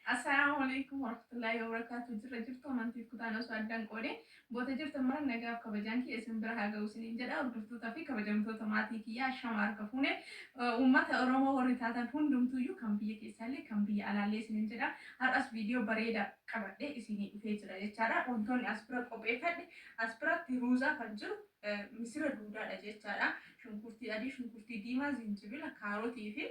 Assalaamu Aleykum Warahmatullaahi Wabarakaatu Jirra jirtu amantiif kutaan osoo addan qoode boota jirtan mara nagaaf kabajaan kiyya isin bira haa ga'u isiniin jedha hordoftoota fi kabajamtoota maatii kiyya ashama harka fuune uummata Oromoo warri taatan hundumtuuyyuu kan biyya keessaallee kan biyya alaallee isiniin jedha har'as viidiyoo bareeda qabadhee isinii dhufee jira jechaadha wantoonni as bira qopheeffadhe as biratti ruuzaa kan jiru misira duudaadha jechaadha shunkurtii adii shunkurtii diimaa zinjibila kaarotii fi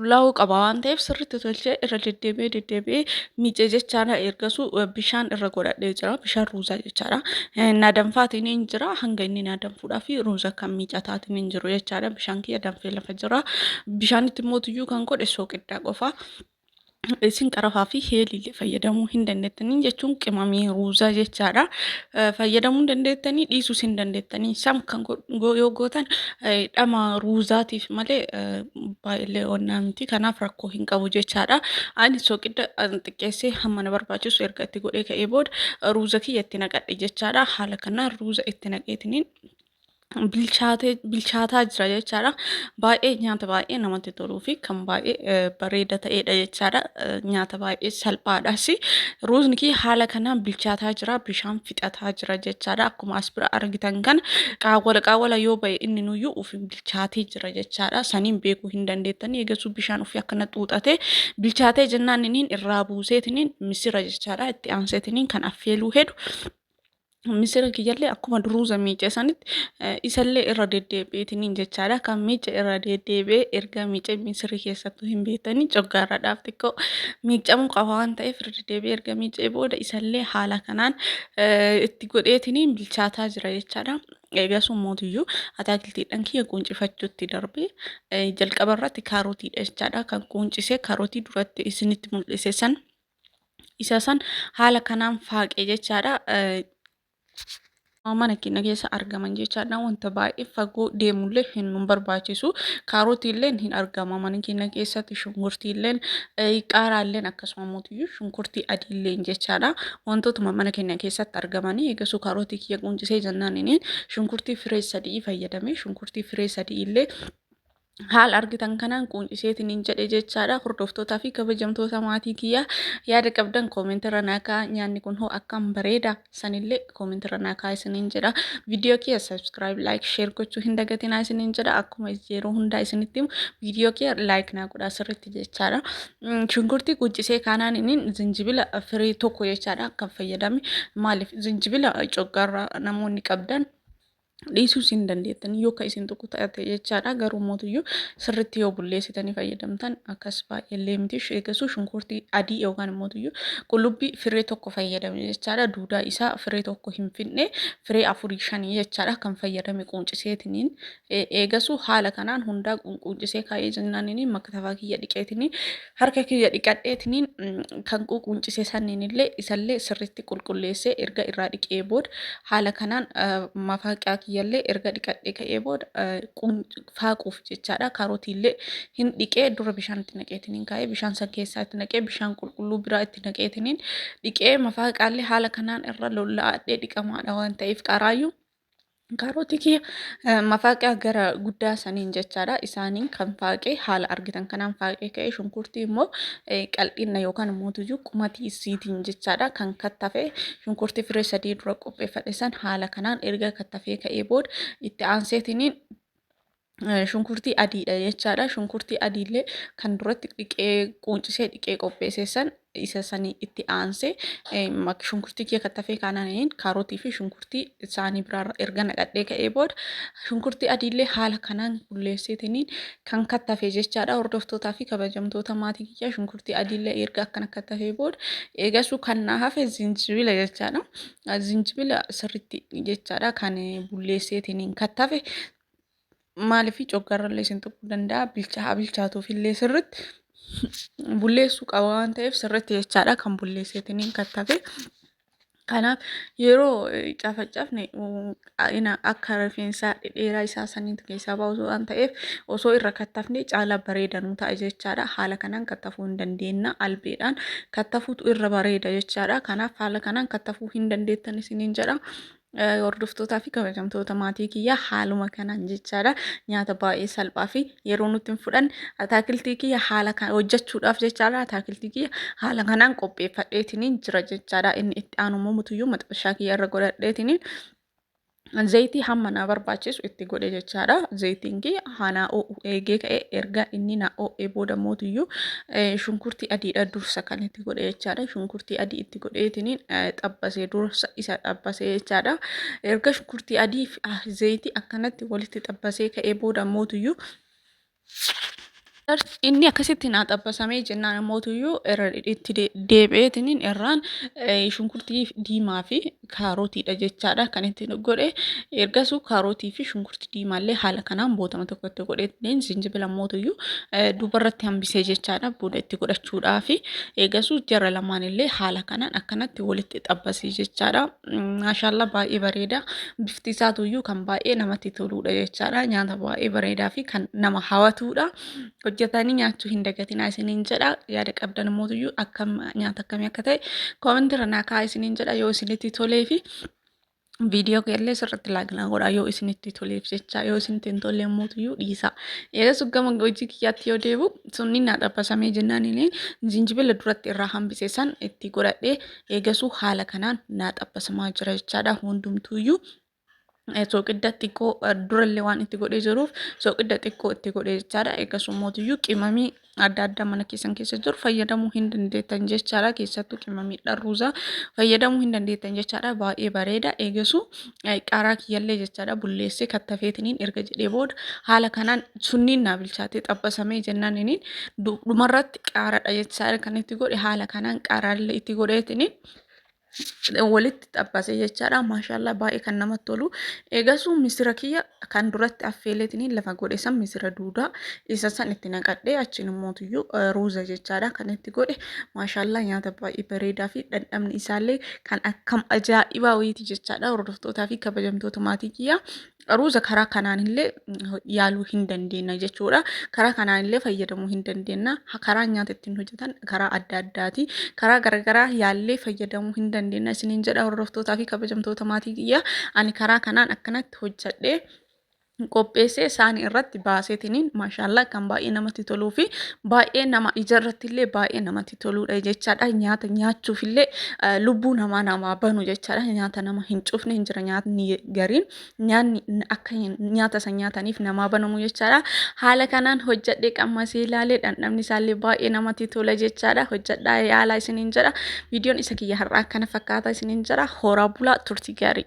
qullaa'uu qaba waan ta'eef sirriitti tolchee irra deddeebi'ee deddeebi'ee miicee jechaadha ergasuu eh, bishaan irra godhadhee jira bishaan ruuzaa jechaadha Eh, na danfaatiin hin jira hanga inni na danfuudhaa fi ruuza kan miicataatiin hin jiru jechaadha bishaan kiyya danfee lafa jira bishaanitti immoo tuyyuu kan godhe sooqiddaa qofa isin qarafaa fi heeliilee fayyadamuu hin dandeettanii jechuun qimamii ruuzaa jechaadha. Eh, Fayyadamuu hin dandeettanii dhiisuus hin dandeettanii. Isaan kan go- go- yoo gootan eh, dhama ruuzaatiif malee eh, baay'illee onnaa miti kanaaf rakkoo hin qabu jechaadha. Ani soqidda xiqqeessee hamma na barbaachisu erga itti godhee ka'ee booda ruuza kiyya itti naqadhe jechaadha. Haala kanaan ruuza itti naqeetiniin bilchaatee bilchaataa jira jechaadha. Baay'ee nyaata baay'ee namatti toluu fi kan baay'ee eh, bareeda ta'edha jechaadha. Eh, Nyaata baay'ee salphaadhas. Ruuzni kiyya haala kanaan bilchaataa jira, bishaan fixataa jira jechaadha. Akkuma as bira argitan kana qaawwala qaawwala yoo ba'e inni nuyyuu ofiin bilchaatee jira jechaadha. Saniin beekuu hin dandeettanii eegasuu bishaan ofii akkana xuuxatee bilchaatee jennaan iniin irraa buuseetiniin misira jechaadha. Itti aanseetiniin kan affeeluu hedu misira kiyyallee akkuma duruuza miicee sanitti eh, isallee irra deddeebi'eetiniin jechaadha. Kan miice irra deddeebi'ee erga miicee misirri keessattuu hin beektanii coggaarradhaaf xiqqoo miicamuu qaba waan ta'eef irra deddeebi'ee erga miicee booda isallee haala kanaan eh, itti godheetiniin bilchaataa jira jechaadha. Eegasuu mootiyyuu ataakiltiidhaan kiyya quuncifachuutti darbe. Jalqaba irratti kaarotiidha jechaadha. Kan quuncisee kaarotii duratti isinitti mul'ise san isa san haala kanaan faaqe jechaadha. mana keenya keessa argaman jechaadha wanta baay'ee fagoo deemullee hin nu barbaachisu kaarotiilleen hin argama mana keenya keessatti shunkurtiilleen qaaraalleen akkasuma shunkurtii adiilleen jechaadha wantootuma mana keenya keessatti argamanii eegasuu kaarootii kiyya quncisee jennaan inni shunkurtii firee sadii fayyadame shunkurtii firee sadii illee haala argitan kanaan quunciseetiin hin jedhe jechaadha hordoftootaa fi kabajamtoota maatii kiyyaa yaada qabdan koomentirra naakaa nyaanni kun hoo akkam bareeda. sanillee comment irra naa kaa isiniin jedha viidiyoo kiyya subscribe like share gochuu hin dagatinaa isiniin jedha akkuma yeroo hundaa isinitti himu viidiyoo kiyya like naa godhaa sirriitti jechaadha shunkurtii quucisee kaanaan inni zinjibila firii tokko jechaadha kan fayyadame maaliif zinjibila coggaarraa namoonni qabdan dhiisuus hin dandeettan yoo ka isin tuqu ta'ate jechaadha garuu mootuyyuu sirritti yoo bulleessitanii fayyadamtan akkas baay'eellee miti eegasuu shunkurtii adii yookaan mootuyyuu qullubbii firee tokko fayyadame jechaadha duudaa isaa firee tokko hin finne firee afurii shanii jechaadha kan fayyadame quunciseetiniin eegasuu haala kanaan hundaa quuncisee kaa'ee jennaanini maktafaa kiyya dhiqeetinii Harka kiyya dhiqadheetiniin kan quuquuncise sanniinillee isallee sirriitti qulqulleessee erga irraa dhiqee booda haala kanaan mafaaqiyaa kiyyallee erga dhiqadhee ka'ee booda faaquuf jechaadha. Kaarotiillee hin dhiqee dura bishaan itti naqeetiniin kaa'ee bishaan san keessaa itti naqee bishaan qulqulluu biraa itti naqeetiniin dhiqee mafaaqaallee haala kanaan irra lolla'adhee dhiqamaadha waan ta'eef qaaraayyuu Karooti kiyya eh, mafaaqaa gara guddaa saniin jechaadha. Isaaniin kan faaqee haala argitan kanaan faaqee ka'ee shunkurtii immoo eh, qal'inna yookaan immoo tuyyuu qumatii isiitiin jechaadha kan kattafe shunkurtii firee sadii dura qopheeffadhe san haala kanaan erga kattafee ka'ee booda itti aanseetiniin shunkurtii adiidha jechaadha. Shunkurtii adiillee kan duratti dhiqee quuncisee dhiqee qopheessee san isa sanii itti aansee shunkurtii kee kattafee kaananiin kaarotii fi shunkurtii isaanii biraarra erga naqadhee ka'ee booda shunkurtii adiillee haala kanaan bulleesseetiniin kan kattafee jechaadha. Hordoftootaa fi kabajamtoota maatii kiyyaa shunkurtii adiillee erga akkana kattafee booda eegasuu kan naa hafe zinjibila jechaadha. Zinjibila sirriitti jechaadha kan bulleesseetiniin kattafe maaliif coggaarrallee isin tuquu danda'a bilchaa haa bilchaatuufillee sirritti bulleessuu qaba waan ta'eef sirritti jechaadha kan bulleesseetiniin kattafe. Kanaaf yeroo eh, cafacafne mm, ina- akka rifeensaa dhedheeraa isaa saniitu keessaa ba'u osoo waan ta'eef osoo irra kattafne caalaa bareeda nu ta'a jechaadha. Haala kanaan kattafuu hin dandeenna albeedhaan kattafuutu irra bareeda jechaadha. Kanaaf haala kanaan kattafuu hin dandeettan isiniin jedha. Hordoftootaa fi kabajamtoota maatii kiyyaa haaluma kanaan jechaadha. Nyaata baay'ee salphaa fi yeroo nutti hin fudhanne ataakiltii kiyya haala kan hojjechuudhaaf jechaadha. Ataakiltii kiyya haala kanaan qopheeffadheetiniin jira jechaadha. Inni itti aanu immoo mutuyyuu maxxashaa kiyya irra godhadheetiniin zayitii hamma naa barbaachisu itti godhe jechaadha. Zayitiin kiyya haanaa oo'u eegee ka'e erga inni naa oo'ee booda mootiyyuu shunkurtii adiidha dursa kan itti itti godhe jechaadha. Shunkurtii adii itti godheetiin xabbasee dursa isa xabbasee jechaadha. Erga shunkurtii adii fi zayitii akkanatti walitti xabbasee ka'ee booda mootuyyuu inni akkasitti naa xabbasamee jennaan mootuyyuu irra itti deebi'eetiin irraan shunkurtii diimaa fi kaarotiidha jechaadha kan itti godhe ergasuu kaarotii fi shunkurtii diimaallee haala kanaan bootama tokko itti godhee zinjibila mootuyyuu dubarratti hambisee jechaadha booda itti godhachuudhaa fi eegasuu jara lamaan illee haala kanaan akkanatti walitti xabbasii jechaadha maashaallaa baay'ee bareeda bifti isaatuyyuu kan baay'ee namatti toluudha jechaadha nyaata baay'ee bareedaa fi kan nama hawatuudha hojjetanii nyaachuu hin dagatinaa isiniin jedha yaada qabdan mootuyyuu akkam nyaata akkamii akka ta'e koomentii irra naa kaa'aa isiniin jedha yoo isinitti tolee fi viidiyoo keellee sirriitti laaginaa godha yoo isinitti toleef jecha yoo isinitti hin tollee mootuyyuu dhiisa eegas gama hojii kiyyaatti yoo deebu sunni naa xabbasamee jennaan inni jinjibila duratti irraa hambise san itti godhadhee eegasuu haala kanaan naa xabbasamaa jira jechaadha hundumtuuyyuu soqidda xiqqoo durallee waan itti godhee jiruuf soqidda xiqqoo itti godhee jechaadha. Egaa summootiyyu qimamii adda addaa mana keessan keessa jiru fayyadamuu hin dandeettan jechaadha. Keessattuu qimamii dharruuza fayyadamuu hin dandeettan jechaadha. Baay'ee bareeda. Eegasuu qaaraa kiyyallee jechaadha bulleessee kattafeetiniin erga jedhee booda haala kanaan sunniin naa bilchaatee xabbasamee jennaan iniin dhumarratti qaaraadha jechaadha kan itti godhe haala kanaan qaaraallee itti godheetiniin walitti xabbase jechaadha. Maashaallah baay'ee kan namatti tolu. Eegasuu misira kiyya kan duratti affeeleetiin lafa godhe san misira duudaa isa san itti naqadhee achiin immootiyyuu ruuza jechaadha kan itti godhe. Maashaallah nyaata baay'ee bareedaa fi dhandhamni isaallee kan akkam ajaa'ibaa wayiiti jechaadha. Hordoftootaa fi kabajamtoota maatii kiyya Qaruuza karaa kanaan illee yaaluu hin dandeenya jechuudha. Karaa kanaan illee fayyadamuu hin dandeenya. Karaa nyaata ittiin hojjetan karaa adda addaati. Karaa garagaraa yaallee fayyadamuu hin dandeenya. Isiniin jedha hordoftootaa fi kabajamtoota maatii kiyya. Ani karaa kanaan akkanatti hojjedhee qopheessee isaanii irratti baaseetiniin maashaallah kan baay'ee namatti toluu fi baay'ee nama ijarratti illee baay'ee namatti namatti toluudha jechaadha. Nyaata nyaachuuf illee lubbuu namaa namaa banu jechaadha. Nyaata nama hin cufne hin jira nyaatni gariin nyaanni akka nyaata san nyaataniif namaa banamu jechaadha. Haala kanaan hojjadhee qammasee ilaalee dhandhamni isaallee baay'ee namatti tola jechaadha. Hojjadhaa yaalaa isiniin jedha. Viidiyoon isa kiyya har'aa akkana fakkaata isiniin jedha. Horaa bulaa turtii gaarii.